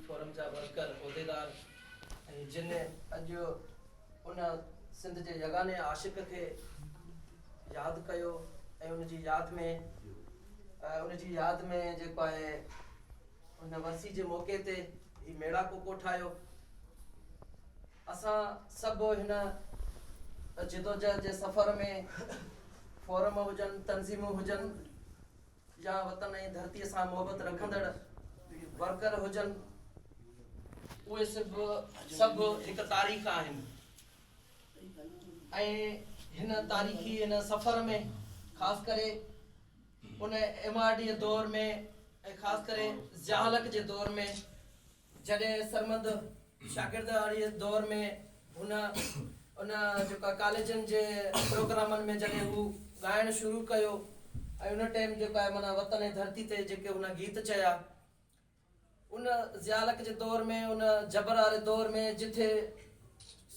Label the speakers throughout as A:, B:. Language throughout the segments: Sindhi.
A: فورم جا ورڪر، عهديدار ۽ جن اڄ ان سنڌ جي يگاني عاشق کي ياد ڪيو ۽ ان جي ياد ۾ ان جي ياد ۾ جيڪو آهي ان ورسي جي موقعي تي هي ميڙاڪو ڪوٺايو اسان سڀ هن جدوجهد جي سفر ۾ فورم هجن تنظيمون هجن يا وطن ۽ ڌرتي سان محبت رکندڙ ورڪر هجن اهي سڀ سڀ هڪ تاريخ آهن ۽ هن تاريخي هن سفر ۾ خاص ڪري ان ايم آر ڊي دور ۾ خاص ڪري ضياء الحق جي دور ۾ جڏهن سرمد شاگرد واري دور ۾ هن ان جيڪا ڪاليجن جي پروگرامن ۾ جڏهن هو ڳائڻ شروع ڪيو ۽ ان ٽيم جيڪا آهي معنيٰ وطن ۽ ڌرتي تي جيڪي هن گيت چيا ان ضيالڪ جي دور ۾ ان جبر واري دور ۾ جتي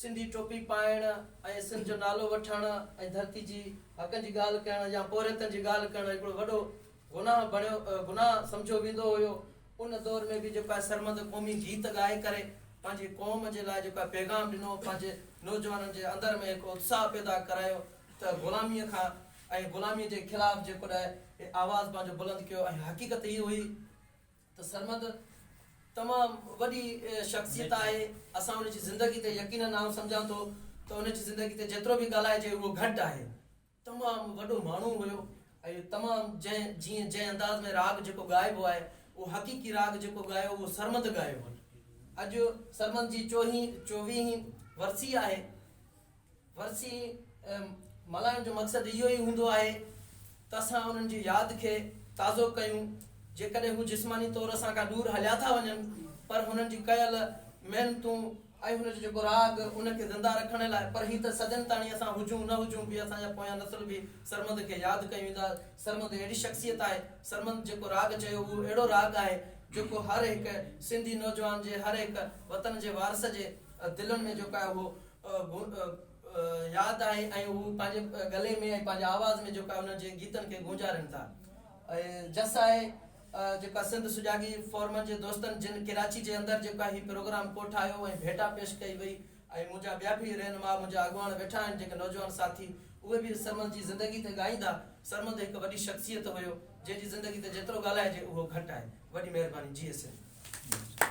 A: سنڌي ٽوپي پائڻ ۽ سنڌ جو نالو وٺڻ ۽ ڌرتي جي حقن جي ڳالهه ڪرڻ يا پورهيتن جي ڳالهه ڪرڻ هڪڙو وڏو گناهه بڻيو گناهه سمجهيو ويندو هيو ان دور ۾ به جيڪو آهي سرمد قومي گيت ڳائي ڪري پنهنجي قوم جي لاء جيڪو آهي پيغام ڏنو پنهنجي نوجوانن جي اندر ۾ هڪ اتساهه پيدا ڪرايو ته غلامي کان ۽ غلامي جي خلاف جيڪو نه آهي آواز پنهنجو بلند ڪيو ۽ حقيقت هيء هئي ته سرمد تمام وڏي شخصيت آهي اسان ان جي زندگي تي يقينن آئون سمجهان ٿو ته ان جي زندگي تي جيترو به ڳالهائجي اهو گهٽ آهي. تمام وڏو ماڻهو هيو ۽ تمام جنهن جيئن جنهن انداز ۾ راڳ جيڪو ڳائبو آهي اهو حقيقي راڳ جيڪو ڳايو اهو سرمد ڳايو هن اڄ سرمد جي چوهين چوويهين ورسي آهي ورسي ملهائڻ جو مقصد اهو ئي هوندو آهي ته اسان انهن جي ياد کي تازو ڪيون جيڪڏهن هو جسماني طور اسان کان دور هليا ٿا وڃن پر هنن جي ڪيل محنتون ۽ هن جو جيڪو راڳ ان کي زنده رکڻ لاء پر هي ته صدين تاڻي اسان هجون نه هجون به اسان جا پويان نسل به سرمد کي ياد ڪيون ويندا سرمد اهڙي شخصيت آهي سرمد جيڪو راڳ چيو اهو اهڙو راڳ آهي جيڪو هر هڪ سنڌي نوجوان جي هر هڪ وطن جي وارث جي دلن ۾ جيڪو آهي اهو ياد آهي ۽ هو پنهنجي گلي ۾ ۽ پنهنجي آواز ۾ جيڪو آهي انهن جي گيتن کي گونجارين ٿا جس آهي جيڪا سنڌ سجاڳي فورم جي دوستن جن ڪراچي جي اندر جيڪا هي پروگرام ڪو ٺاهيو ۽ ڀيٽا پيش ڪئي وئي ۽ منهنجا ٻيا به رهنما منهنجا اڳواڻ ويٺا آهن جيڪي نوجوان ساٿي اهي به سرمد جي زندگي تي ڳائيندا سرمد هڪ وڏي شخصيت هيو جنهن جي زندگي تي جيترو ڳالهائجي اهو گهٽ آهي وڏي مهرباني جيئي سنڌ.